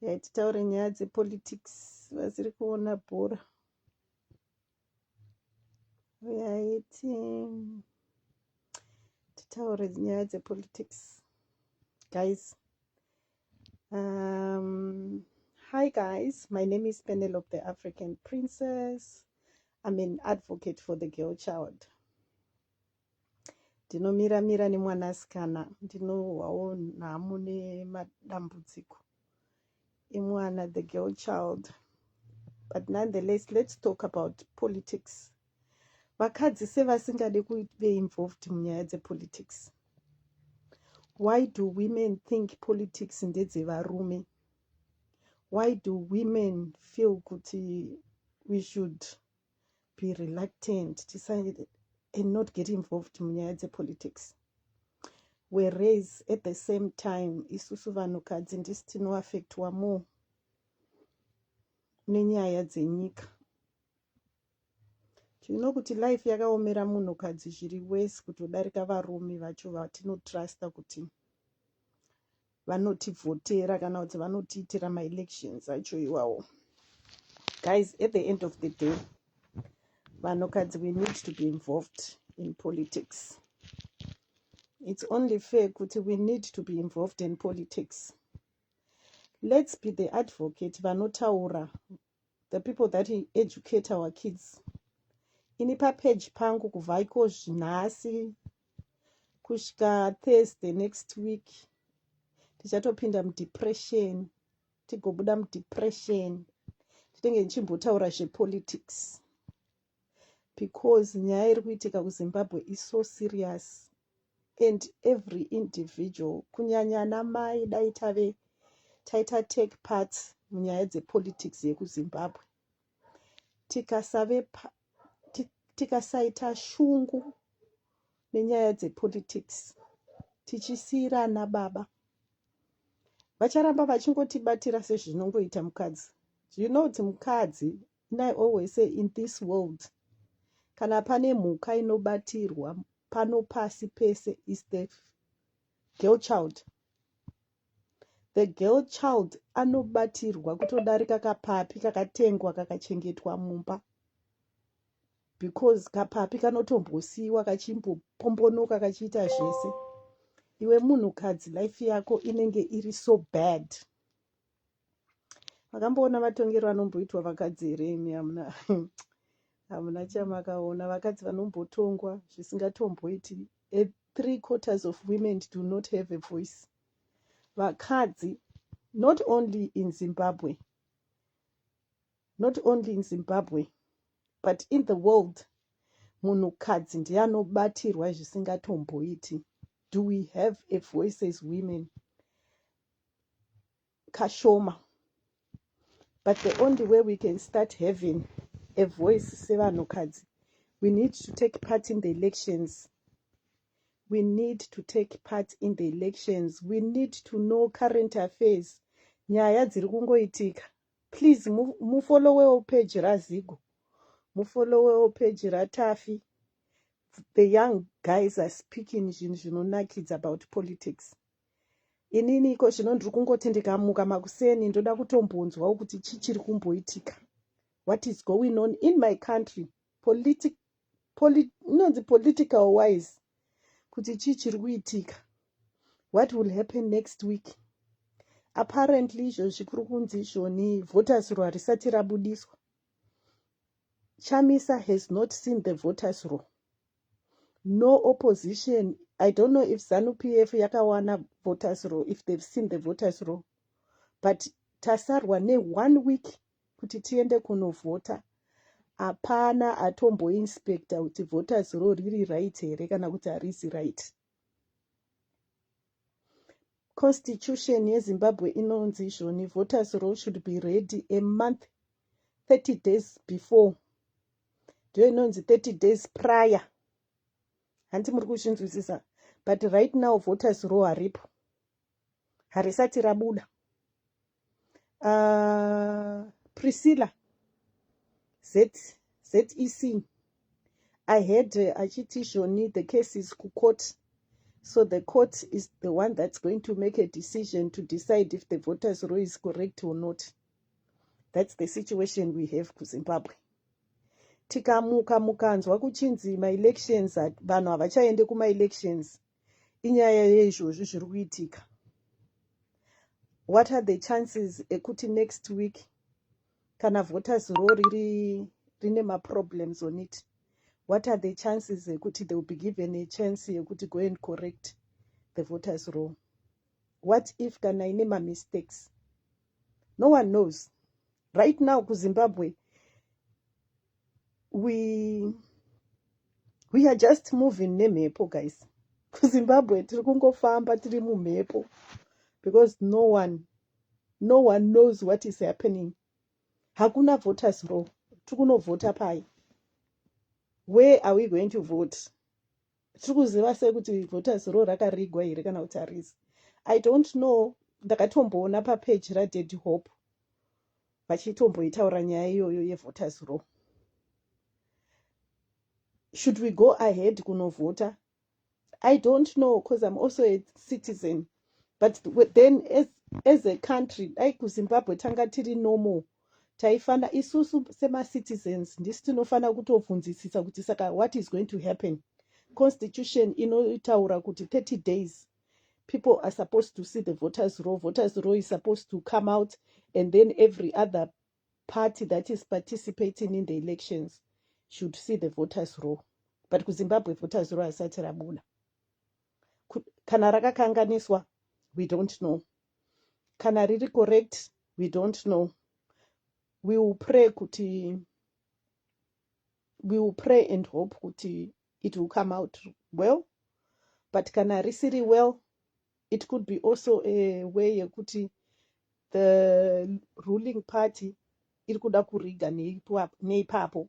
Hey, titaure nyaya dzepolitics vasiri kuona bhora yaiti titaure nyaya dzepolitics guys um, hi guys my name is penelope the african princess i'm an advocate for the girl child ndinomira mira nemwana asikana ndinohwawo nhamo nemadambudziko emwana the girl child but nonetheless let's talk about politics vakadzi sevasingade kuve involved munyaya dzepolitics why do women think politics ndedzevarume why do women feel kuti we should be reluctant tisa and not get involved munyaya dzepolitics whereas at the same time isusu vanhukadzi ndisi tinoaffectwa more nenyaya dzenyika tino kuti life yakaomera munhukadzi zviri wese kutodarika varume vacho vatinotrusta kuti vanotivhotera kana kuti vanotiitira maelections acho iwawo guys at the end of the day vanhukadzi we need to be involved in politics it's only fair kuti we need to be involved in politics let's be the advocate vanotaura the people that educate our kids ini papage pangu kubva iko zvinhasi kusvika thursday next week tichatopinda mudepression tigobuda mudepression titenge ndichimbotaura zvepolitics because nyaya iri kuitika kuzimbabwe is so serious and every individual kunyanya ana mai dai tave taita take part munyaya dzepolitics yekuzimbabwe tikasave tikasaita shungu nenyaya dzepolitics tichisiirana baba vacharamba vachingotibatira sezvinongoita mukadzi you know kuti mukadzi And I always say in this world kana pane mhuka inobatirwa pano pasi pese is the girl child the girl child anobatirwa kutodarika kapapi kakatengwa kakachengetwa mumba because kapapi kanotombosiyiwa kachimbopombonoka kachiita zvese iwe munhukadzi life yako inenge iri so bad Makamboona matongero anomboitwa vakadzi here imi hamuna hamuna chamakaona vakadzi vanombotongwa zvisingatomboiti a three quarters of women do not have a voice vakadzi not only in zimbabwe not only in zimbabwe but in the world munhukadzi ndiye anobatirwa zvisingatomboiti do we have a voice as women kashoma but the only way we can start having a voice sevanhukadzi we need to take part in the elections we need to take part in the elections we need to know current affairs nyaya dziri kungoitika please mufollowewo page razigo mufollowewo page ratafi the young guys are speaking zvinhu zvinonakidza about politics inini iko zvino ndiri kungoti ndikamuka makuseni ndoda kutombonzwawo kuti chii chiri kumboitika what is going on in my country politi poli, inonzi political wise kuti chii chiri kuitika what will happen next week apparently izvo zvikuri kunzi izvoni voters row harisati rabudiswa chamisa has not seen the voters row no opposition i don't know if zanu pf yakawana voters row if they've seen the voters row but tasarwa neone week kuti tiende kunovhota hapana atomboinspecta kuti voters row riri right here kana kuti harisi right constitution yezimbabwe inonzi izvoni voters row should be ready a month 30 days before ndiyo inonzi 30 days prior hanti muri kuzvinzwisisa but right now voters ro haripo harisati rabuda uh, priscilla z zec i had uh, achiti zvoni the case is kucourt so the court is the one that's going to make a decision to decide if the voters ro is correct or not thats the situation we have kuzimbabwe tikamuka mukanzwa kuchinzi maelections vanhu havachaende kumaelections inyaya yeizvozvi zviri kuitika what are the chances ekuti next week kana voters ro riri rine maproblems on it what are the chances ekuti they will be given a chance yekuti go and correct the voters ro what if kana ine mamistakes no one knows right now kuzimbabwe we we are just moving nemhepo guys kuzimbabwe tiri kungofamba tiri mumhepo because no one no one knows what is happening hakuna voters row tiri kunovhota pai where are we going to vote tiri kuziva sei kuti voters row rakarigwa here kana kuti harizi i don't know ndakatomboona papeji radaddy hope vachitomboitaura nyaya iyoyo yevoters row should we go ahead kunovhota i don't know because im also a citizen but then as, as a country dai kuzimbabwe tanga tiri normal taifana isusu semacitizens ndisi tinofanira kutobvunzisisa kuti saka what is going to happen constitution inotaura kuti 30 days people are supposed to see the voters row voters row is supposed to come out and then every other party that is participating in the elections should see the voters row but kuzimbabwe voters row asati rabuna kana rakakanganiswa we don't know kana riri correct we don't know we will pray kuti we will pray and hope kuti it will come out well but kana risiri well it could be also a way yekuti the ruling party iri kuda kuriga neipapo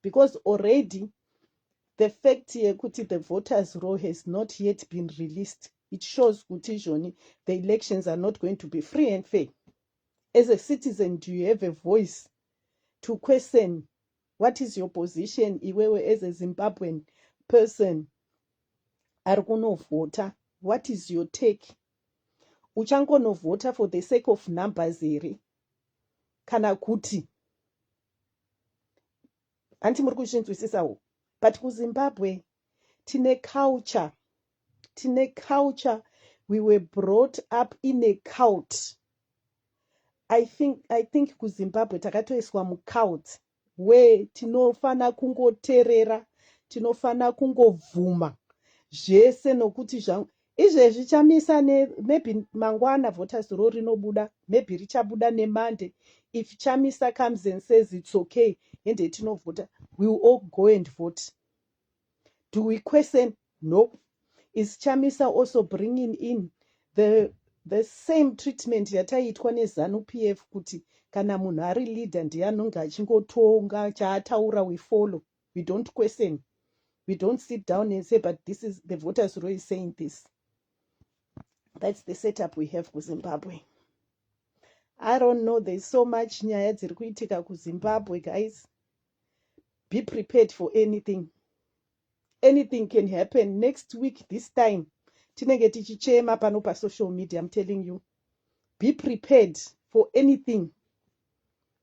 because already the fact yekuti the voters row has not yet been released it shows kuti izvoni the elections are not going to be free and fair as a citizen do you have a voice to question what is your position iwewe as a zimbabwean person ari kunovhota what is your take uchangonovhota for the sake of numbers here kana kuti hanti muri kuzvinzwisisawo but kuzimbabwe tine culture tine culture we were brought up in a cult i think, I think kuzimbabwe takatoiswa mucult where tinofana kungoterera tinofana kungobvuma zvese nokuti zvangu izvezvi chamisa ne maybe mangwana voters ro rinobuda maybe richabuda nemonday if chamisa comes and says its okay hende tinovhota we will all go and vote do we question no is chamisa also bringing in the the same treatment yataiitwa nezanu p f kuti kana munhu ari leader ndiye anonge achingotonga chaataura we follow we don't question we don't sit down and say but this is the voters row is saying this that's the setup we have kuzimbabwe i don't know there's so much nyaya dziri kuitika kuzimbabwe guys be prepared for anything anything can happen next week this time tinenge tichichema pano pasocial media im telling you be prepared for anything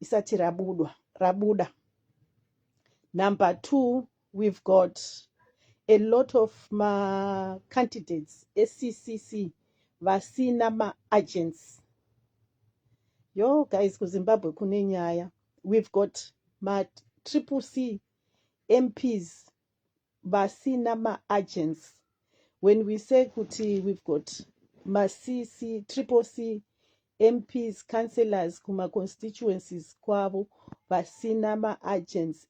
isati rabudwa rabuda number two we've got a lot of macandidates eccc vasina maagents yo guys kuzimbabwe kune nyaya we've got matriple c mps vasina maagents when we say kuti we've got macc triple c mps councillors kumaconstituencies kwavo vasina maagents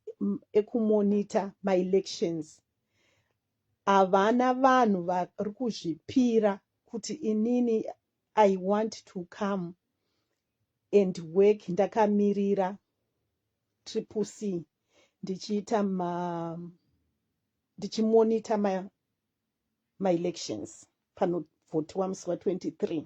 ekumonita maelections havana vanhu vari kuzvipira kuti inini i want to come and work ndakamirira triple c ndichiita ma ndichimonita ma maelections panovhotiwa musi wa 23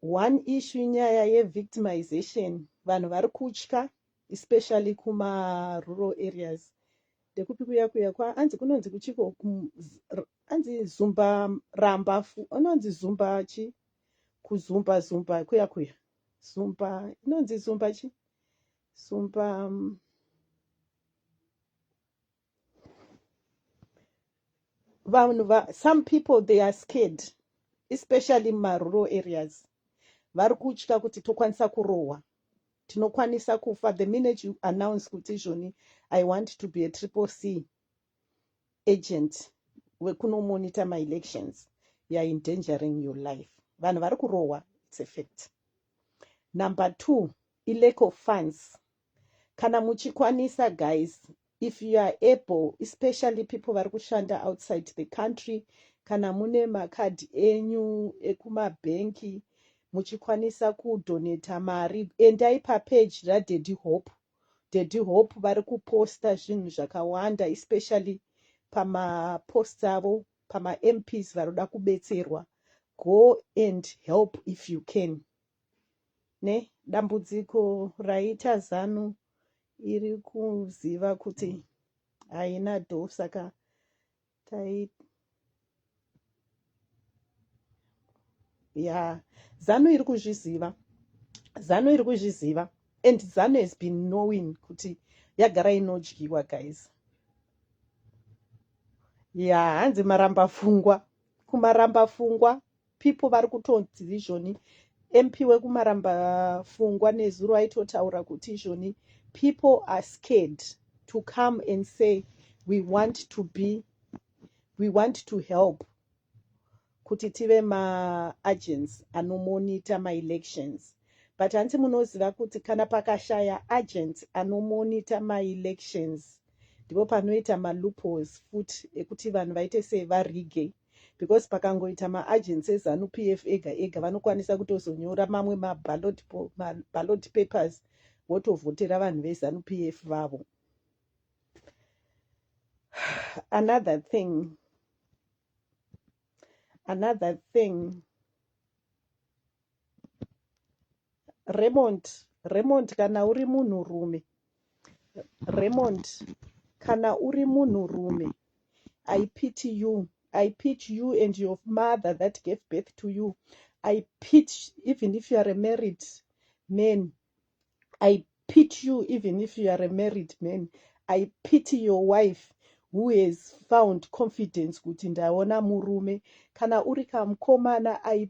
one issue nyaya yevictimization vanhu vari kutya especially kumarural areas ndekupi kuya kuya kwa anzi kunonzi kuchiko anzi zumba ramba anonzi zumba chi kuzumba zumba kuya kuya Sumpa inonzi sumpa chi sumpa mm, vanhu va some people they are scared especially mumarural areas vari kutya kuti tokwanisa kurohwa tinokwanisa kufa the minute you announce kuti izvoni i want to be a triple c agent wekunomonitor maelections youare endangering your life vanhu vari kurohwa its a fact number two ilack of funds kana muchikwanisa guys if you are able especially people vari kushanda outside the country kana mune makadhi enyu ekumabhenki muchikwanisa kudonata mari endai papeji radady hope Daddy Hope vari kuposta zvinhu zvakawanda especially pama posts avo pama MPs vanoda kubetserwa go and help if you can ne dambudziko raita zanu iri kuziva kuti haina do saka Taita yeah zanu iri kuzviziva zanu iri kuzviziva and zanu has been knowing kuti yagara inodyiwa guys ya yeah, hanzi maramba fungwa kumaramba fungwa people vari kutonzi izvoni mp wekumaramba fungwa nezuro aitotaura kuti izvoni people are scared to come and say we want to be we want to help kuti tive maagents anomonita maelections but hanzi munoziva kuti kana pakashaya agent anomonita maelections ndipo panoita maloopholes futi ekuti vanhu vaite sevarigeyi because pakangoita maagency ezanu p f ega ega vanokwanisa kutozonyora mamwe maballot papers votovhotera vanhu vezanu p f vavo another thing another thing Raymond, Raymond kana uri munhu rume. Raymond, kana uri munhu rume. I pity you. I pity you and your mother that gave birth to you. I pity even if you are a married man. I pity you even if you are a married man. I pity your wife who has found confidence kuti ndaona murume. Kana uri kamkomana, I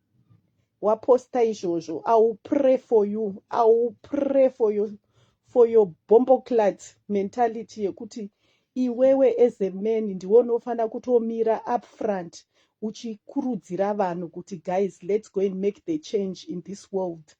waposta izvozvo i will pray for you i will pray for you for your bomboclat mentality yekuti iwewe as a man ndiwe unofanira kutomira upfront uchikurudzira vanhu kuti guys let's go and make the change in this world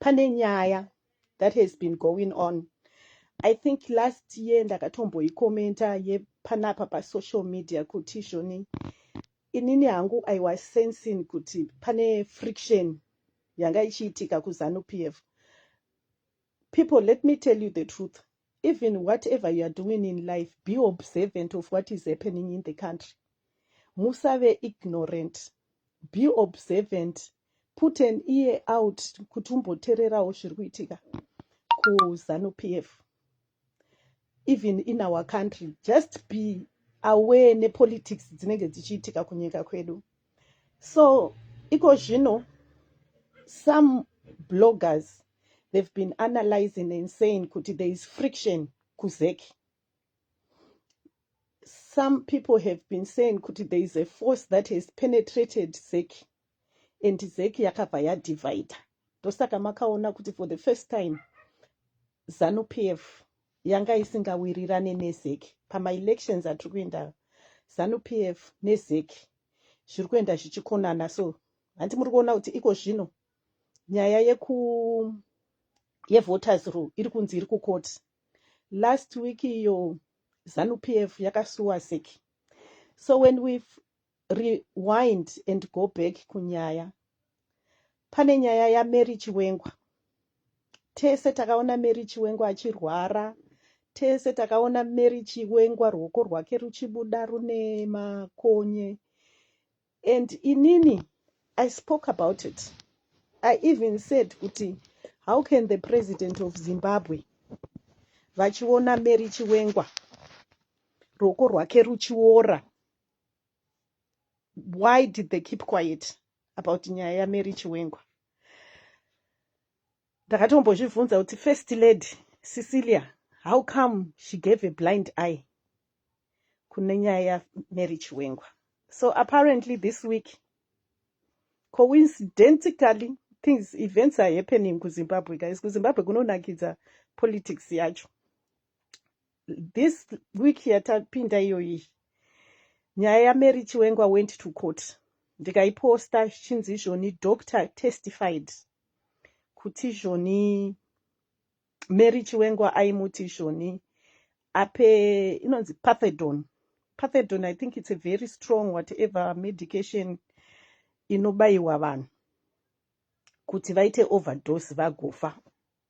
pane nyaya that has been going on i think last year ndakatomboikomenta yepanapa pasocial media kuti zvoni inini hangu i was sensing kuti pane friction yanga ichiitika kuzanu p f People let me tell you the truth even whatever you are doing in life be observant of what is happening in the country musave ignorant be observant put an ear out kuti umbotererawo zviri kuitika kuzanu p f even in our country just be aware nepolitics dzinenge dzichiitika kunyika kwedu so iko zvino some bloggers they've been analyzing and saying kuti there is friction kuzek some people have been saying kuti there is a force that has penetrated zek and zek yakabva yadivider ndosaka makaona kuti for the first time zanupf yanga isingawirirane nezec pamaelections atiri kuenda zanu pf nezec zviri kuenda zvichikonana so hanti muri kuona kuti iko zvino nyaya yeku yevoters rule iri kunzi iri kukoti last week iyo zanu pf yakasuwa zec so when we rewind and go back kunyaya pane nyaya yamary chiwengwa tese takaona mary chiwengwa achirwara tese takaona mary chiwengwa ruoko rwake ruchibuda rune makonye and inini i spoke about it i even said kuti how can the president of zimbabwe vachiona mary chiwengwa ruoko rwake ruchiora why did they keep quiet about nyaya yamary chiwengwa ndakatombozvibvunza kuti first lady cecilia how come she gave a blind eye kune nyaya yamary chiwengwa so apparently this week coincidentally things events are happening kuzimbabwe guys kuzimbabwe kunonakidza politics yacho this week yatapinda iyoyi nyaya yamary chiwengwa went to court ndikaiposta zvichinzi izvoni doctor testified kuti izvoni mary chiwengwa aimuti izvoni ape inonzi pathedon pathedon i think it's a very strong whatever medication inobayiwa vanhu kuti vaite overdose vagofa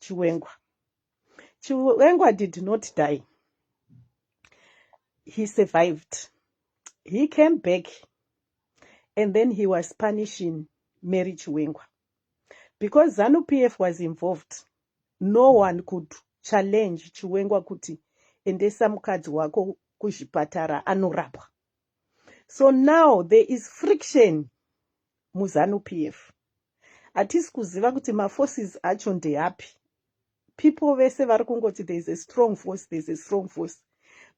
Chiwengwa. Chiwengwa did not die. He survived. He came back and then he was punishing Mary Chiwengwa. Because ZANU PF was involved, no one could challenge Chiwengwa kuti endesa mukadzi wako kuzvipatara anorapwa. so now there is friction muzanu p f hatisi kuziva kuti maforces acho ndeapi people vese vari kungoti there is a strong force there is a strong force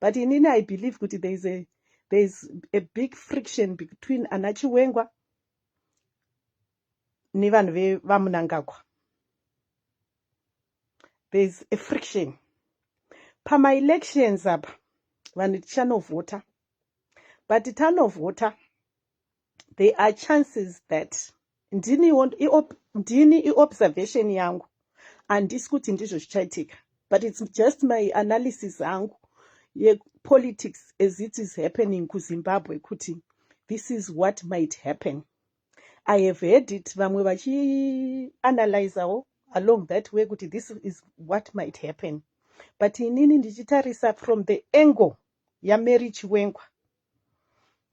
but inini i believe kuti there is a, there is a big friction between ana chiwengwa nevanhu vevamunangagwa there's a friction pamaelections apa vanhu tichanovhota but tanovhota there are chances that ndini ndini iobservation yangu handisi kuti ndizvo zvichaitika but its just my analysis angu yepolitics as it is happening kuzimbabwe kuti this is what might happen I have heard it vamwe vachianalyzawo along that way kuti this is what might happen but inini ndichitarisa from the angle yamary chiwengwa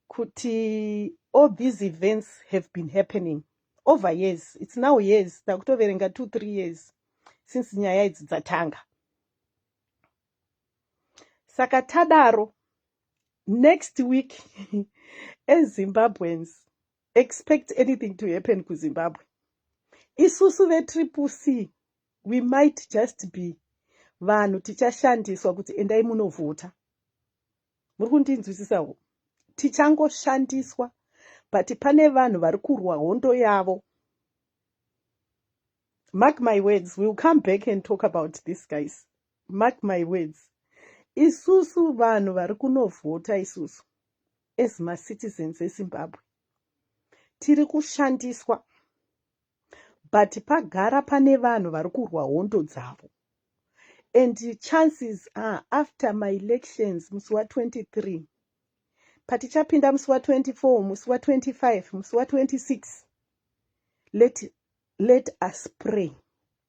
kuti all these events have been happening over years its now years takutoverenga two three years since nyaya idzi dzatanga saka tadaro next week as zimbabweans expect anything to happen kuzimbabwe isusu vetriple c we might just be vanhu tichashandiswa kuti endai munovhota muri kundinzwisisawo tichangoshandiswa but pane vanhu vari kurwa hondo yavo mark my words will come back and talk about this guys mark my words isusu vanhu vari kunovhota isusu as macitizens ezimbabwe tiri kushandiswa but pagara pane vanhu vari kurwa hondo dzavo and chances are after maelections musi wa23 patichapinda musi wa24 musi wa25 musi wa26 let, let us pray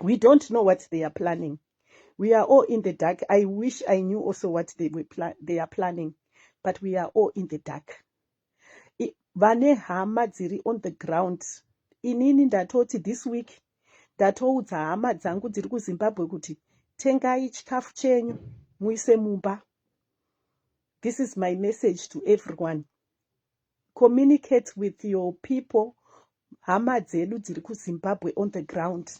we don't know what they are planning we are all in the dark i wish i knew also what they, were pla they are planning but we are all in the dark vane hama dziri on the ground inini ndatoti this week ndatoudza hama dzangu dziri kuzimbabwe kuti tengai chikafu chenyu muise mumba this is my message to everyone communicate with your people hama dzedu dziri kuzimbabwe on the ground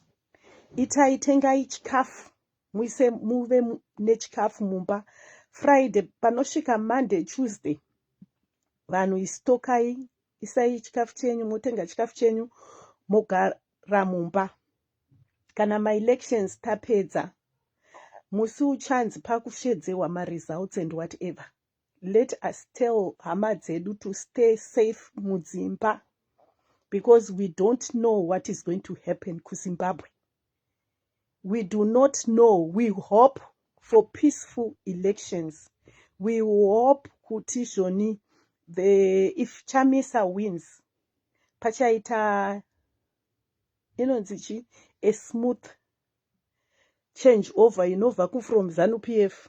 itai tengai chikafu muise muve nechikafu mumba friday panosvika monday tuesday vanhu istokai isai chikafu chenyu motenga chikafu chenyu mogara mumba kana maelections tapedza musi uchanzi pakusvedzehwa maresults and whatever let us tell hama dzedu to stay safe mudzimba because we don't know what is going to happen kuzimbabwe we do not know we hope for peaceful elections we hope kuti zvoni the if chamisa wins pachaita inonzi chi a smooth change over inobva kufrom zanu p f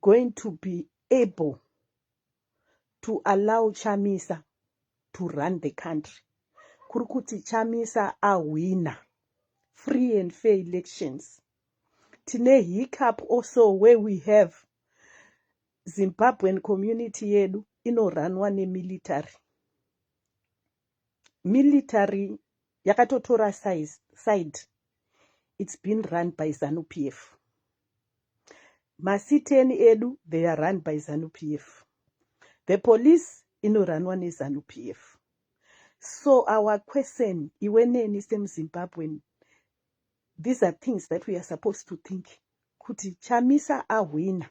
going to be able to allow chamisa to run the country kuri kuti chamisa ahwina free and fair elections tine hiccup also where we have zimbabwean community yedu inoranwa nemilitary military yakatotora size side it's been run by zanu p f masiteni edu they are run by zanu p f the police inoranwa nezanu p f so our question iwe neni semuzimbabwen these are things that we are supposed to think kuti chamisa ahwina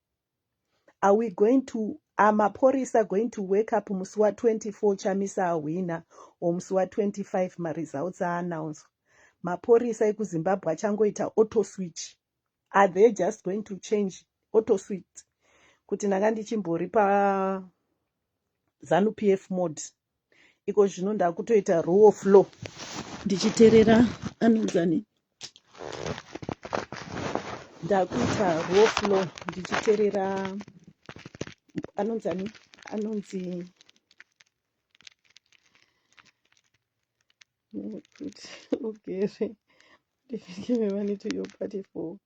Are we going to are mapurisa going to wake up musi wa 24 chamisa ahwina or musi wa 25 maresults aanaunzwa mapurisa ekuzimbabwe achangoita auto switch are they just going to change auto switch kuti ndanga ndichimbori pa zanupf mode iko zvino ndakutoita rule of law ndichiterera anonzani ndakuita rule of law ndichiterera anonzani anonzi kuti ugere ndivekeve vaniti yo party for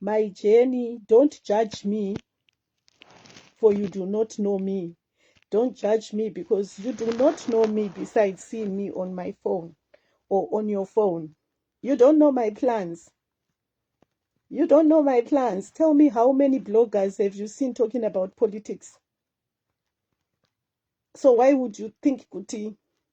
Mai Jeni don't judge me for you do not know me don't judge me because you do not know me besides seeing me on my phone or on your phone you don't know my plans you don't know my plans tell me how many bloggers have you seen talking about politics so why would you think kuti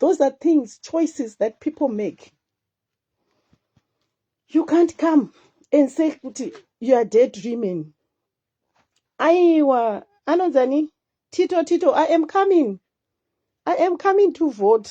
those are things choices that people make you can't come and say kuti you are dead dreaming aiwa anonzani tito tito i am coming i am coming to vote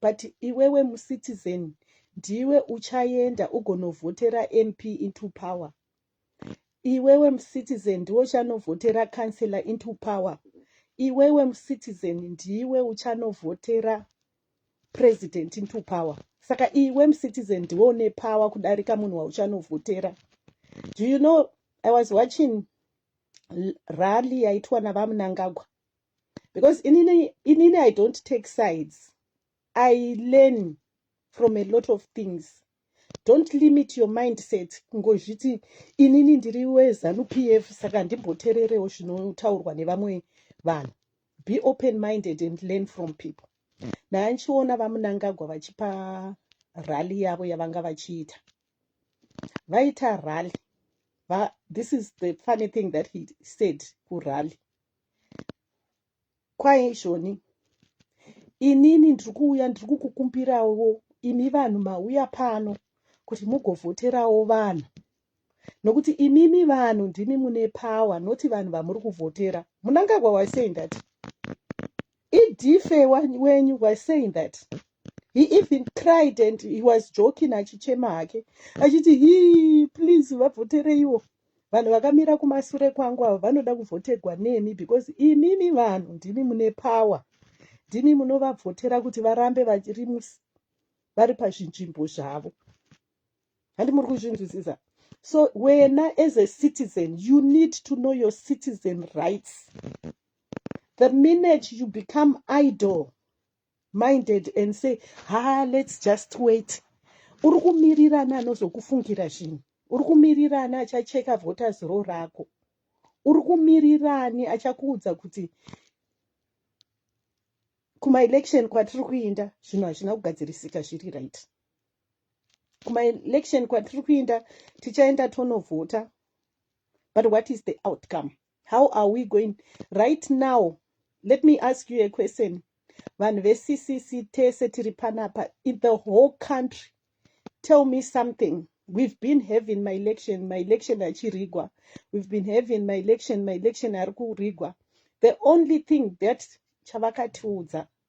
But iwewe mu citizen ndiwe uchaenda ugonovhotera MP into power. Iwewe mu citizen ndiwe uchanovhotera councillor into power. Iwewe mu citizen ndiwe uchanovhotera president into power. Saka iwe mu citizen ndiwe une power kudarika munhu wauchanovhotera. Do you know I was watching rally yaitwa naVaMnangagwa because inini inini i don't take sides i learn from a lot of things don't limit your mindset kungozviti inini ndiri wezanu p f saka ndimbotererewo zvinotaurwa nevamwe vanhu be open minded and learn from people naya ndichiona vamunangagwa vachipa rally yavo yavanga vachiita vaita rally Va, this is the funny thing that he said kurally Kwaye izvoni inini ndiri kuuya ndiri kukukumbirawo imi vanhu mauya pano kuti mugovhoterawo vanhu nokuti imimi vanhu ndimi mune power not vanhu vamuri kuvhotera munangagwa waisei ndati Idife wan- wenyu was saying that he even cried and he was joking achichema hake achiti hii please vavhotereiwo vanhu vakamira kumasure kwangu ava vanoda kuvhotegwa nemi because imimi vanhu ndimi mune power ndimi munovavhotera kuti varambe vari mus- vari pazvinzvimbo zvavo handi muri kuzvinzwisisa so wena as a citizen you need to know your citizen rights the minute you become idol minded and say ha let's just wait uri kumirirana anozokufungira zvinhu uri kumirirani achacheka voters ro rako uri kumirirani achakuudza kuti kumaelection kwatiri kuinda zvinhu hazvina kugadzirisika zviri right kumaelection kwatiri kuinda tichaenda tonovhota but what is the outcome how are we going right now let me ask you a question vanhu veccc tese tiri panapa in the whole country tell me something we've been having maelection maelection achirigwa we've been having maelection maelection ari kurigwa the only thing that chavakatiudza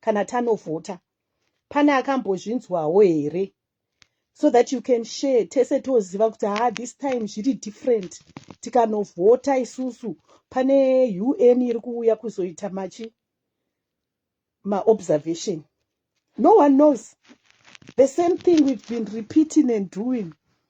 kana tanovhota pane akambozvinzwawo here so that you can share tese toziva kuti ha this time zviri different tikanovhota isusu pane un iri kuuya kuzoita machi maobservation no one knows the same thing we've been repeating and doing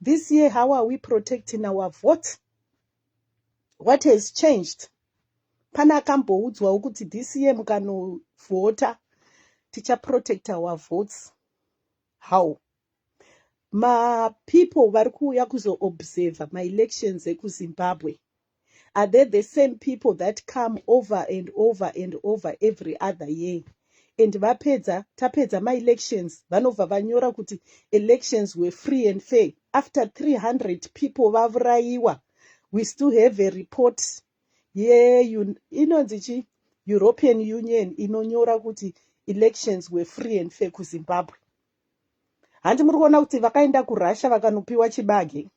This year how are we protecting our vote? What has changed? Pana akamboudzwawo kuti this year mukanovhota tichaprotect our votes. How? mapeople vari kuuya kuzoobserva maelections ekuzimbabwe Are they the same people that come over and over and over every other year and vapedza tapedza maelections vanobva vanyora kuti elections were free and fair after 300 people vavurayiwa we still have a report ye inonzi chi european union inonyora kuti elections were free and fair kuzimbabwe handi muri kuona kuti vakaenda kurussia vakanopiwa chibage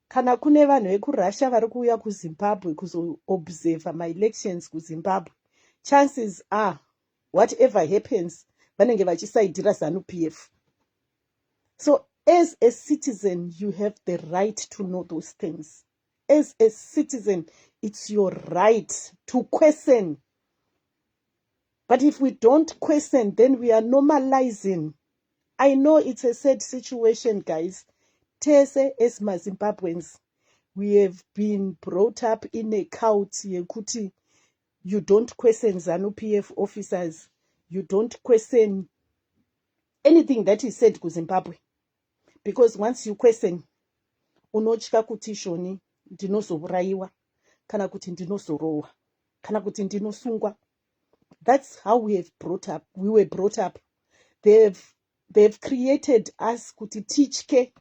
kana kune vanhu vekurussia vari kuuya kuzimbabwe kuzoobserver maelections kuzimbabwe chances are whatever happens vanenge vachisaidhira zanu p f so as a citizen you have the right to know those things as a citizen it's your right to question but if we don't question then we are normalizing I know it's a sad situation guys tese as mazimbabweans we have been brought up in a cult yekuti you don't question zanup f officers you don't question anything that is said kuzimbabwe because once you question unotya kuti shoni ndinozovurayiwa kana kuti ndinozorohwa kana kuti ndinosungwa That's how we have brought up, we were brought up. They have, they have created us kuti titye.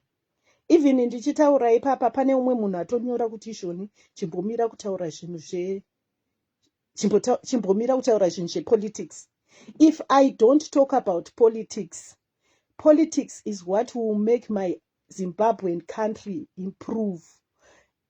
Even ndichitaura ipapa pane umwe munhu atonyora kuti izvoni chimbomira kutaura zvinhu zve chimbomira kutaura zvinhu zvepolitics. If I don't talk about politics, politics is what will make my Zimbabwean country improve.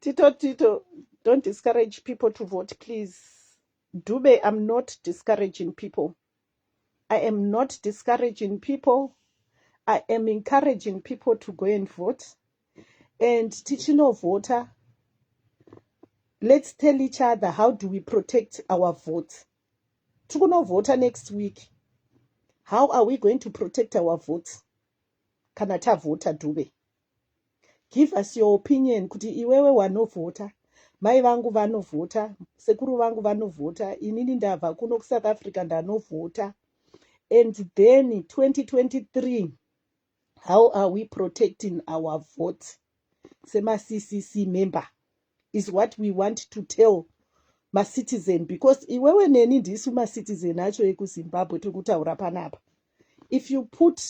tito tito don't discourage people to vote please dube i'm not discouraging people i am not discouraging people i am encouraging people to go and vote and tichinovhota let's tell each other how do we protect our votes tiri kunovhota next week how are we going to protect our votes kana tavhota dube give us your opinion kuti iwewe wanovhota mai vangu vanovhota sekuru vangu vanovhota inini ndabva kuno kusouth africa ndanovhota and then 2023 how are we protecting our vote semaccc member is what we want to tell macitizen because iwewe neni ndisu macitizen acho ekuzimbabwe tiri kutaura panapa if you put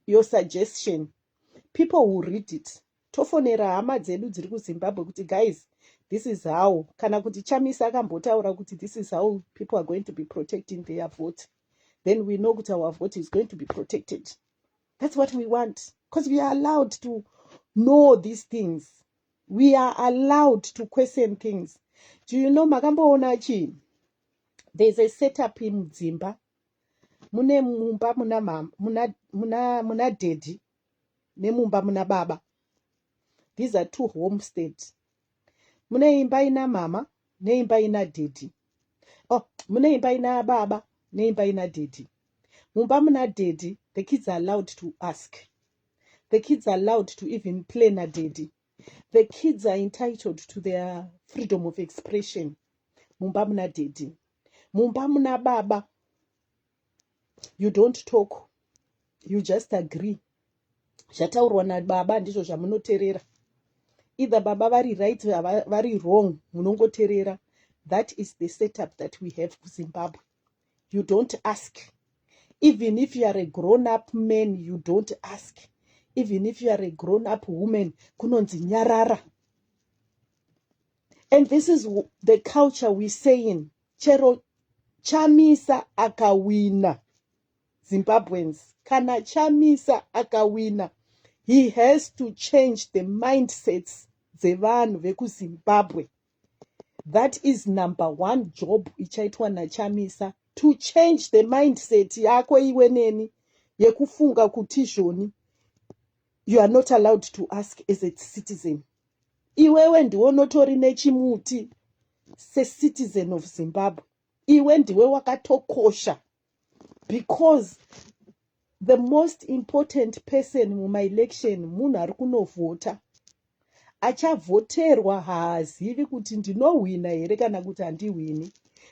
your suggestion people will read it Tofonera hama dzedu dziri kuZimbabwe kuti guys this is how kana kuti Chamisa akambotaura kuti this is how people are going to be protecting their vote then we know kuti our vote is going to be protected. That's what we want because we are allowed to know these things. We are allowed to question things. Do you know makamboona chii? There's a setup in Zimba mune mumba muna muna muna muna daddy nemumba muna baba these are two homestead mune imba ina mama neimba ina dhedhi oh mune imba ina baba neimba ina dhedhi mumba muna dhedhi the kids are allowed to ask the kids are allowed to even play nadhedhi the kids are entitled to their freedom of expression mumba muna dhedhi mumba muna baba you don't talk you just agree zvataurwa nababa ndizvo zvamunoterera either baba vari right vari wrong munongoterera that is the setup that we have kuzimbabwe you don't ask even if you are a grown up man you don't ask even if you are a grown up woman kunonzi nyarara and this is the culture we saying chero chamisa akawina zimbabweans kana chamisa akawina he has to change the mindsets dzevanhu vekuzimbabwe that is number one job ichaitwa nachamisa to change the mindset yako iwe neni yekufunga kuti izvoni you are not allowed to ask as a citizen iwewe ndiwe unotori nechimuti secitizen of zimbabwe iwe ndiwe wakatokosha because the most important person mumaelection munhu ari kunovhota Achavhoterwa haazivi kuti ndinohwina here kana kuti handihwini,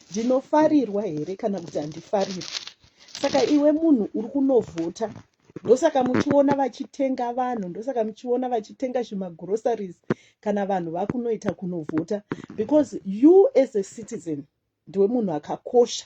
ndinofarirwa here kana kuti handifarirwi. Saka iwe munhu uri kunovhota, ndosaka muchiona vachitenga vanhu, ndosaka muchiona vachitenga zvimagroceries kana vanhu vakunoita kunovhota because you as a citizen ndiwe munhu akakosha.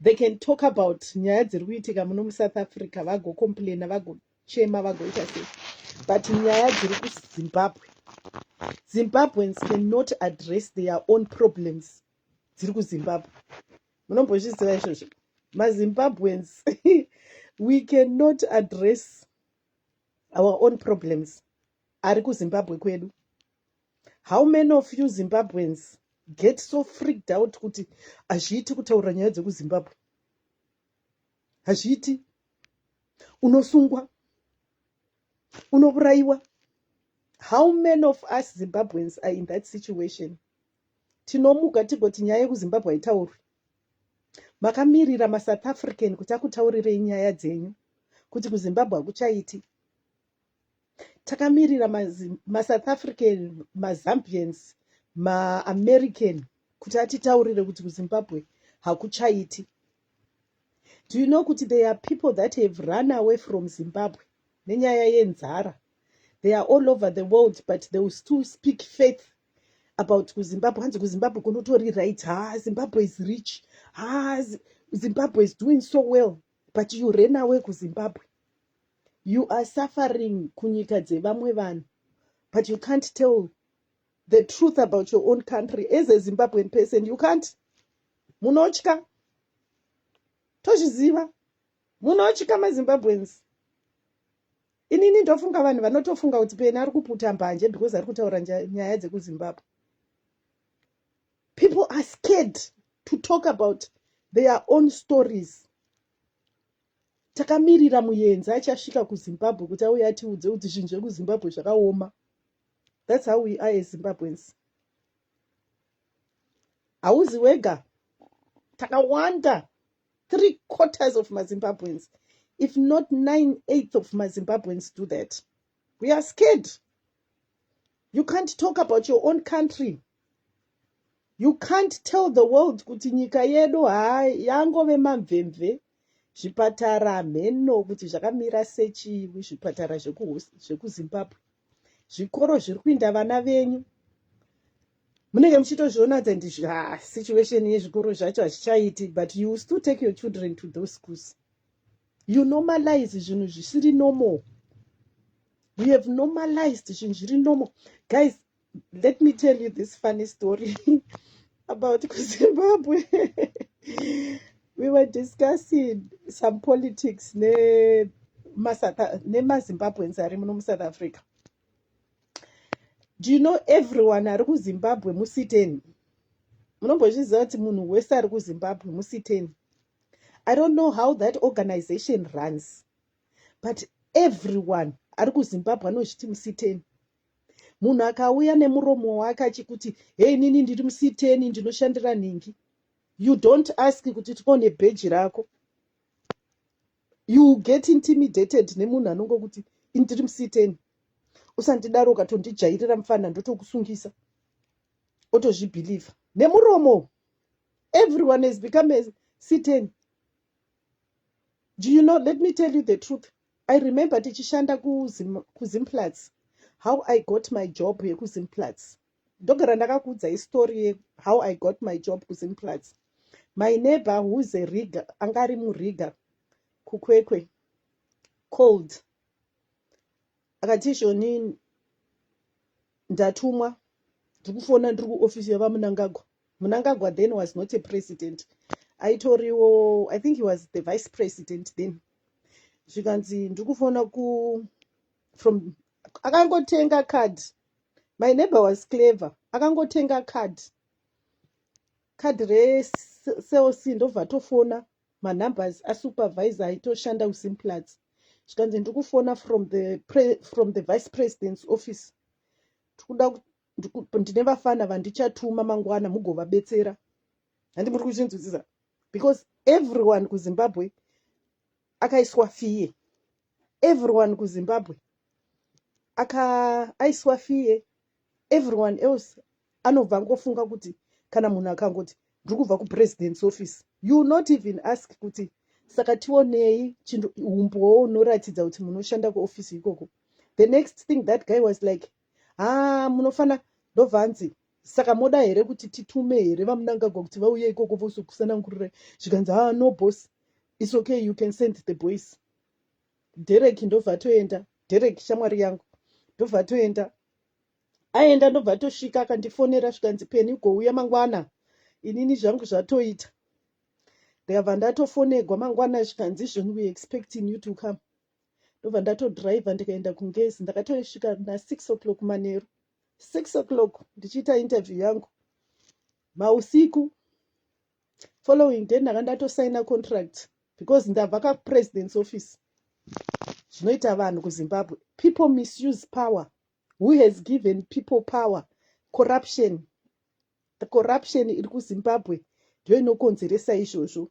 They can talk about nyaya dziri kuitika muno muSouth Africa vagocomplaina vagochema vagoita sei but nyaya dziri kuZimbabwe Zimbabweans cannot address their own problems dziri kuZimbabwe munombozviziva izvozvo maZimbabweans we cannot address our own problems ari kuZimbabwe kwedu How many of you Zimbabweans get so freaked out kuti hazviiti kutaurira nyaya dzekuzimbabwe hazviiti unosungwa unovurayiwa how many of us zimbabweans are in that situation tinomuka tigoti nyaya yekuzimbabwe haitaurwi makamirira masouth african kuti akutaurirei nyaya dzenyu kuti kuzimbabwe hakuchaiti takamirira masouth african mazambians maamerican kuti atitaurire kuti kuzimbabwe hakuchaiti do you know kuti there are people that have run away from zimbabwe nenyaya yenzara they are all over the world but they will still speak faith about kuzimbabwe hanzi kuzimbabwe kunotori right ha zimbabwe is rich ha zimbabwe is doing so well but you ran away kuzimbabwe you are suffering kunyika dzevamwe vanhu but you can't tell the truth about your own country as a zimbabwean person you can't munotya tozviziva munotya mazimbabweans inini ndofunga vanhu vanotofunga kuti pena ari kuputa mbanje because ari kutaura nyaya dzekuzimbabwe people are scared to talk about their own stories takamirira muyenzi achasvika kuzimbabwe kuti auye atiudze kuti zvinhu zvekuzimbabwe zvakaoma thats how we are ezimbabwens hauzi wega takawanda three quarters of mazimbabwens if not nine eighth of mazimbabwens do that we are scared you can't talk about your own country you can't tell the world kuti nyika yedu haa yangove mamvemve Zvipatara hameno kuti zvakamira sechii zvipatara zvekuZimbabwe. Zvikoro zviri kuinda vana venyu munenge muchitozviona kuti ndi ah, situation yezvikoro zvacho hazvichaiti but you still take your children to those schools you normalize zvinhu zvisiri normal you have normalized zvinhu zviri normal guys let me tell you this funny story about kuzimbabwe we were discussing some politics ne nemazimbabweans ari muno musouth africa do you know everyone ari kuzimbabwe musiteni munombozviziva kuti munhu wese ari kuzimbabwe musiteni i don't know how that organization runs but everyone ari kuzimbabwe anozviti musiteni munhu akauya nemuromo wake achikuti hei nini ndiri musiteni ndinoshandira nhingi you don't ask kuti tione bheji rako you get intimidated nemunhu anongo kuti ndiri musiteni usandidaro ukatondijairira mufana ndotokusungisa otozvibhilivha nemuromo everyone has become a siteni do you know let me tell you the truth I remember tichishanda kuZim, kuZimplats how I got my job yekuZimplats. Ndogara ndakakuudzai story ye how I got my job kuZimplats. My neighbor who's a rigger, anga ari murigger kuKwekwe called akati Shoni ndatumwa ndiri kufona ndiri kuofisi yaVaMunangagwa Munangagwa then was not a president aitoriwo i think he was the vice president then zvikanzi ndiri kufona ku from akangotenga card my neighbor was clever akangotenga card card recelc ndobva atofona manumbers asupervisor aitoshanda kusimplats zvikanzi ndiri kufona from the, from the vice president's office tikuda ndine vafana vandichatuma mangwana mugovabetsera handi muri kuchinzwisisa because everyone kuzimbabwe akaiswa fiye everyone kuzimbabwe aka aiswa fiye everyone else anobva angofunga kuti kana munhu akangoti ndiri kubva kupresident's office you not even ask kuti saka tionei chinhu umbowo unoratidza kuti munoshanda kuofisi ikoko the next thing that guy was like haa munofana ndobva anzi saka moda here kuti titume here vamunangagwa kuti vauye ikoko vosukusanangurira zvikanzi haa no boss its okay you can send the boys derek ndobva atoenda derek shamwari yangu ndobva atoenda aenda ndobva atosvika akandifonera zvikanzi peni ugouya mangwana inini zvangu zvatoita ndikabva ndatofonegwa mangwana zvikanzi izvoni we expecting you to come ndobva ndatodriver ndikaenda kungezi ndakatosvika nasix o'clock manheru six o'clock ndichiita interview yangu mausiku following day ndanga ndatosaina contract because ndabva kapresident's office zvinoita vanhu kuzimbabwe people misuse power who has given people power corruption the corruption iri kuzimbabwe ndiyo inokonzeresa izvozvo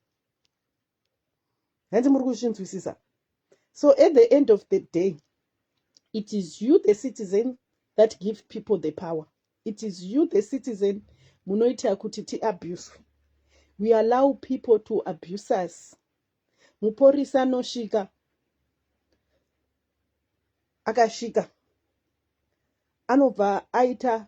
hanzi muri kuzvinzwisisa so at the end of the day it is you the citizen that give people the power it is you the citizen munoita kuti tiabuswe we allow people to abuse us muporisa anosvika akasvika anobva aita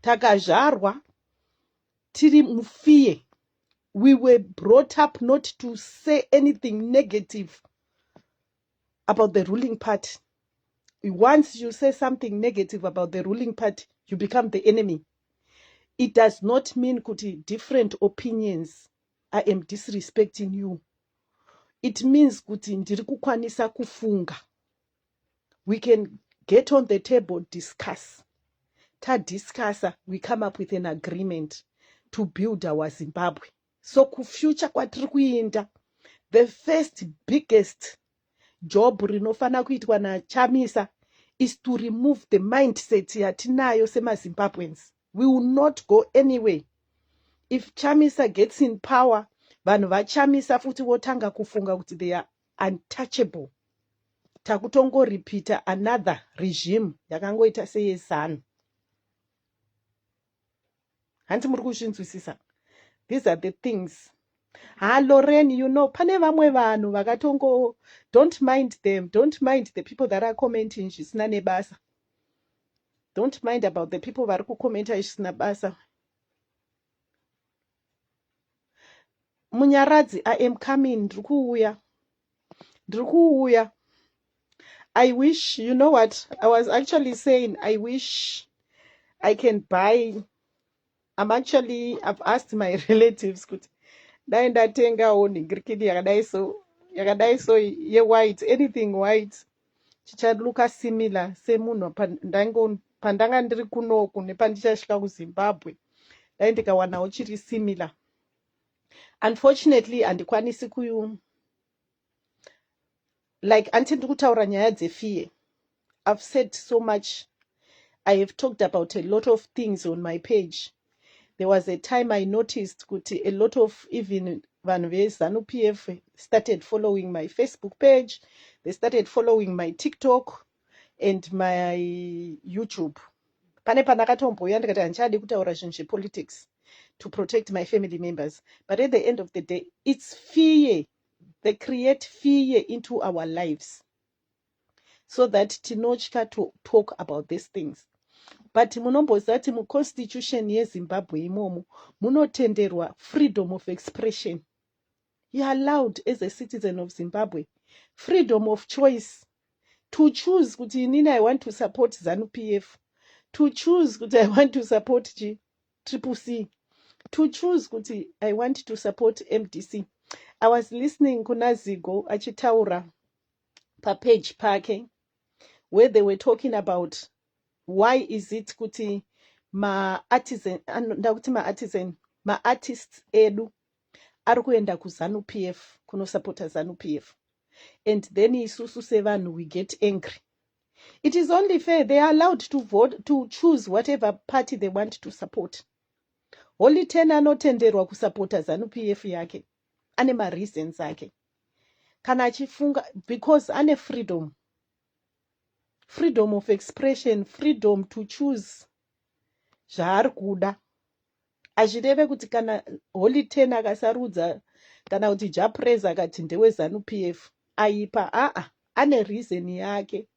takazvarwa tiri mufear we were brought up not to say anything negative about the ruling party once you say something negative about the ruling party you become the enemy it does not mean kuti different opinions i am disrespecting you it means kuti ndiri kukwanisa kufunga we can get on the table discuss tadiscussa we come up with an agreement to build our zimbabwe so kufuture kwatiri kuinda the first biggest job rinofanira kuitwa nachamisa is to remove the mindset yatinayo semazimbabweans we will not go anyway if chamisa gets in power vanhu vachamisa futi votanga kufunga kuti they are untouchable takutongoripita another regime yakangoita seyezanu hanti muri kuzvinzwisisa these are the things ha loren you know pane vamwe vanhu vakatongo don't mind them don't mind the people that are commenting zvisina nebasa don't mind about the people vari kucommenta zvisina basa Munyaradzi, I am coming, ndiri kuuya, ndiri kuuya. I wish, you know what, I was actually saying, I wish I can buy, I'm actually, I've asked my relatives kuti dai ndatengawo nhingirikini yakadai so, yakadai so yewhite, anything white. chichaluka similar semunhu pandanga ndiri kunoku nepandichasvika kuzimbabwe dai ndikawanawo chiri similar unfortunately handikwanisi ku like anti ndiri kutaura nyaya dzefear i've said so much i have talked about a lot of things on my page There was a time I noticed kuti a lot of even vanhu vezanu PF started following my Facebook page, they started following my TikTok and my YouTube. Pane pandakatombouya ndikati handichadi kutaura zvinhu zvepolitics to protect my family members. But at the end of the day, it's fear. They create fear into our lives. so that tinotya to talk about these things but munomboziva kuti muconstitution yezimbabwe imomo munotenderwa freedom of expression you allowed as a citizen of zimbabwe freedom of choice to choose kuti inini i want to support zanu p f to choose kuti i want to support chi triple c to choose kuti i want to support mdc i was listening kuna zigo achitaura papage pake where they were talking about why is it kuti maartisan nda kuti maartisan maartists edu ari kuenda kuzanu p f kunosapota zanu p f and then isusu sevanhu we get angry it is only fair they are allowed to vote to choose whatever party they want to support holy ten anotenderwa kusapota zanu p f yake ane mareasons ake kana achifunga because ane freedom freedom of expression freedom to choose zvaari kuda hazvireve kuti kana holy ten akasarudza kana kuti japres akati ndewezanup f aipa aa ane reason yake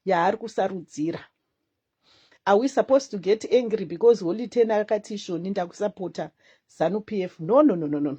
yaari kusarudzira are we supposed to get angry because holy ten akati ishoni ndakusapota zanup f no no no no no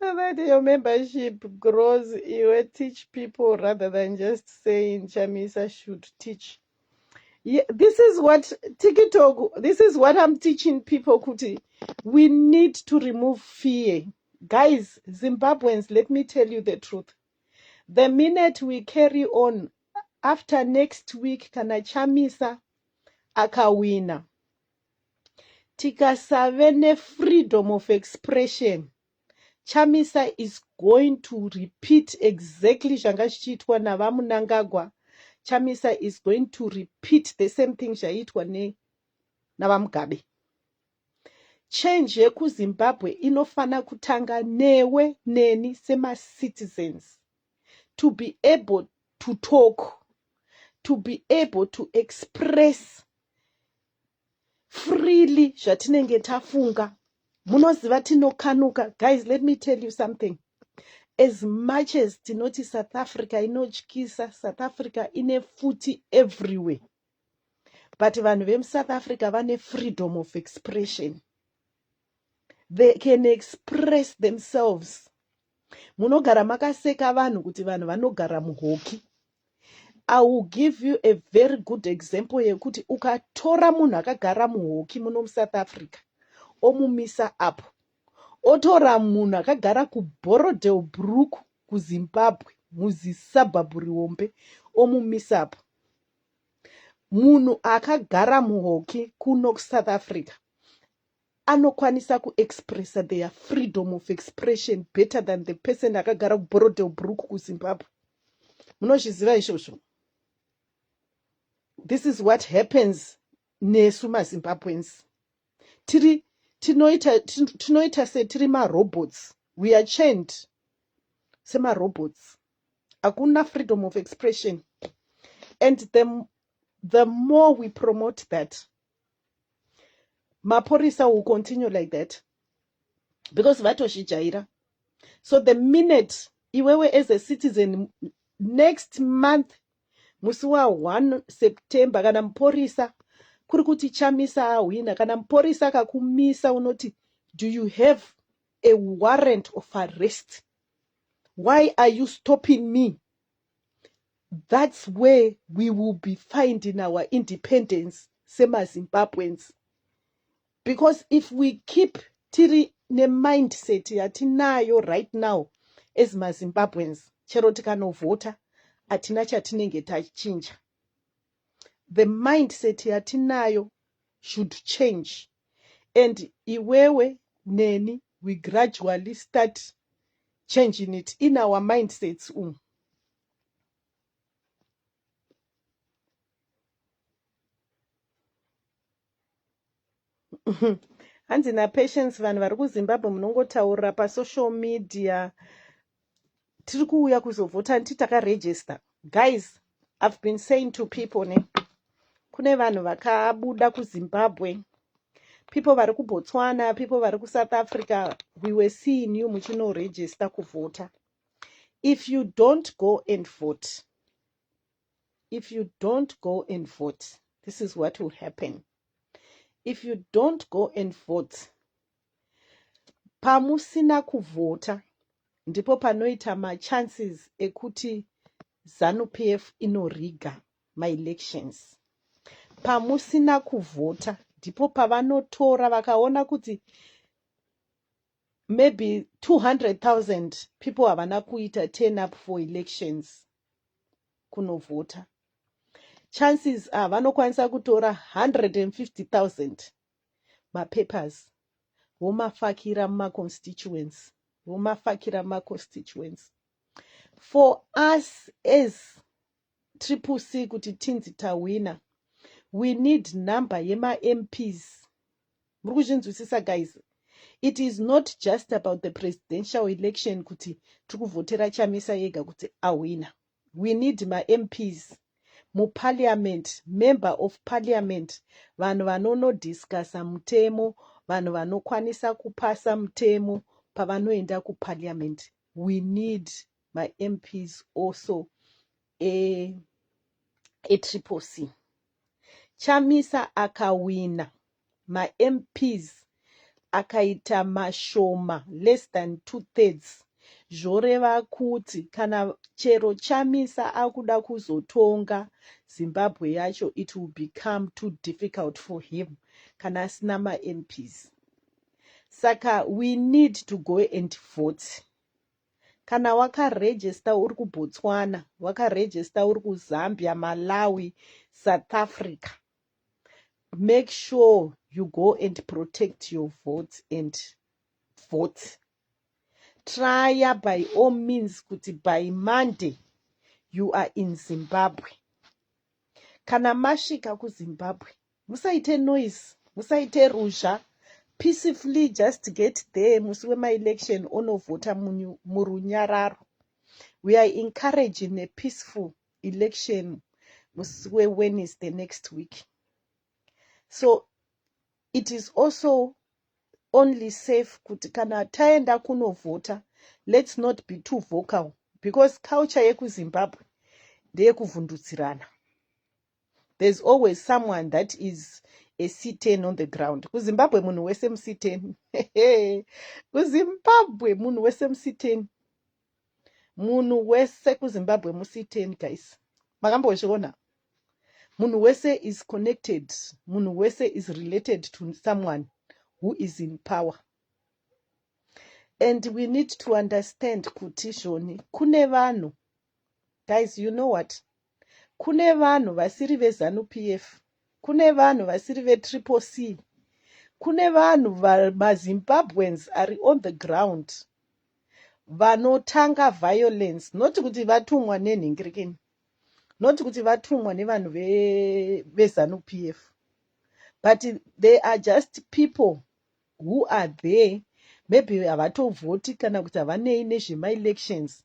that your membership grows iwe teach people rather than just saying chamisa should teach yeah, this is what tiktok this is what i'm teaching people kuti we need to remove fear guys zimbabweans let me tell you the truth The minute we carry on after next week kana Chamisa akawina tikasave nefreedom of expression Chamisa is going to repeat exactly zvanga zvichiitwa navamunangagwa Chamisa is going to repeat the same thing zvaiitwa ne navamugabe Change yekuZimbabwe inofana kutanga newe neni semacitizens to be able to talk, to be able to express freely zvatinenge tafunga. Munoziva tinokanuka. Guys, let me tell you something. As much as tinoti South Africa inotyisa, South Africa ine futi everywhere. but vanhu vemusouth africa vane freedom of expression they can express themselves munogara makaseka vanhu kuti vanhu vanogara muhoki i will give you a very good example yekuti ukatora munhu akagara muhoki muno musouth africa omumisa apo otora munhu akagara kuborodel brook kuzimbabwe muzisabhabhu riombe omumisa apo munhu akagara muhoki kuno kusouth africa anokwanisa kuexpressa their freedom of expression better than the person akagara kuborodel brook kuzimbabwe munozviziva izvozvo this is what happens nesu mazimbabwens tiri tinoita tinoita setiri marobots we are chained semarobots hakuna freedom of expression and the, the more we promote that mapurisa will continue like that because vatozvijaira so the minute iwewe as a citizen next month musi wa 1 september kana mupurisa kuri kuti chamisa ahwina kana mupurisa akakumisa unoti do you have a warrant of arrest why are you stopping me that's where we will be finding our independence semazimbabweans because if we keep tiri nemindset yatinayo right now as mazimbabweans chero tikanovhota hatina chatinenge tachinja the mindset yatinayo should change and iwewe neni we gradually start changing it in our mindsets umu um. hanzi napatience vanhu vari kuzimbabwe munongotaurira pasocial media tiri kuuya kuzovhota nditi takaregister guys i've been saying to people ne kune vanhu vakabuda kuzimbabwe people vari kubotswana people vari kusouth africa we were seeing you muchinoregister kuvhota if you don't go and vote if you don't go and vote this is what will happen if you don't go and vote pamusina kuvhota ndipo panoita machances ekuti zanupf inoriga maelections pamusina kuvhota ndipo pavanotora vakaona kuti maybe 200 000 people havana kuita turn up for elections kunovhota chances are vanokwanisa kutora 150000 mapapers vomafakira mumaconstituency vomafakira mumaconstituency for us as triple c kuti tinzi tahwina we need number yemamps muri kuzvinzwisisa guys it is not just about the presidential election kuti tiri kuvhotera chamisa yega kuti ahwina we need mamps muparliament member of parliament vanhu vanonodiscusa mutemo vanhu vanokwanisa kupasa mutemo pavanoenda kuparliament we need mamps also e, etriple c chamisa akawina mamps akaita mashoma less than two thirds zvoreva kuti kana chero chamisa akuda kuzotonga zimbabwe yacho it will become too difficult for him kana asina mamps saka we need to go and vote Kana wakaregister uri kuBotswana, wakaregister uri kuZambia, Malawi, South Africa, make sure you go and protect your votes and votes. Trya by all means kuti by Monday you are in Zimbabwe. Kana masvika kuZimbabwe musaite noise musaite ruzha peacefully just get there musi wemaelection onovhota murunyararo. We are encouraging a peaceful election musi weWednesday next week. So it is also only safe kuti kana taenda kunovhota lets not be too vocal because culture yekuzimbabwe ndeyekuvhundutsirana there's always someone that is a c10 on the ground kuzimbabwe munhu wese muc10 kuzimbabwe munhu wese muc10 munhu wese kuzimbabwe musiiten guys makambozviona munhu wese is connected munhu wese is related to someone who is in power and we need to understand kuti zvoni kune vanhu guys you know what kune vanhu vasiri veZanu-PF, kune vanhu vasiri veTriple C, kune vanhu maZimbabweans ari on the ground vanotanga violence not kuti vatumwa nenhingirikini not kuti vatumwa nevanhu veZanu-PF but they are just people Who are they? Maybe havatobvoti kana kuti havanei nezvema elections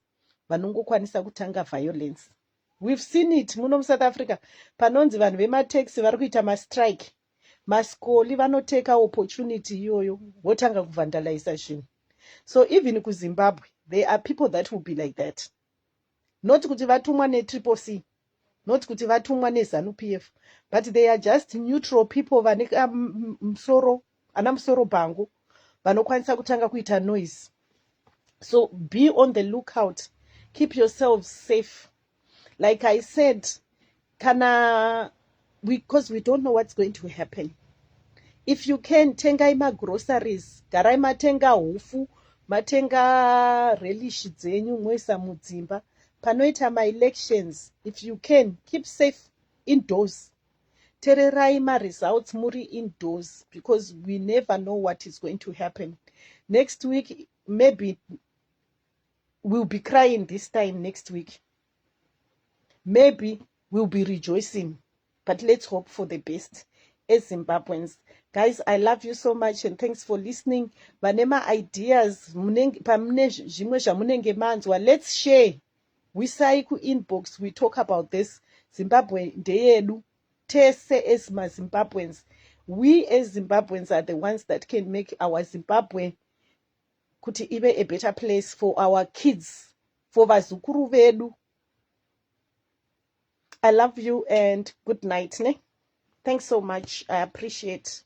vanongokwanisa kutanga violence. We've seen it muno muSouth Africa panonzi vanhu vemaTaxi vari kuita mastrike. Maskoli vanoteka opportunity iyoyo votanga kuvandalaisa zvinhu. So even kuZimbabwe there are people that will be like that. not kuti vatumwa netriple c not kuti vatumwa nezanu p f but they are just neutral people vane musoro ana musoro bhangu vanokwanisa kutanga kuita noise so be on the lookout keep yourselves safe like i said kana because we, we don't know what's going to happen if you can tengai magroceries garai matenga hufu matenga relish dzenyu moisa mudzimba panoita maelections if you can keep safe indoors tererai maresults muri indoors because we never know what is going to happen next week maybe we'll be crying this time next week maybe we'll be rejoicing but let's hope for the best as zimbabweans guys i love you so much and thanks for listening vane maideas pamune zvimwe zvamunenge manzwa let's share wisai kuinbox we talk about this zimbabwe ndeyedu tese as mazimbabweans we as zimbabweans are the ones that can make our zimbabwe kuti ive a better place for our kids for vazukuru vedu i love you and good night ne thanks so much i appreciate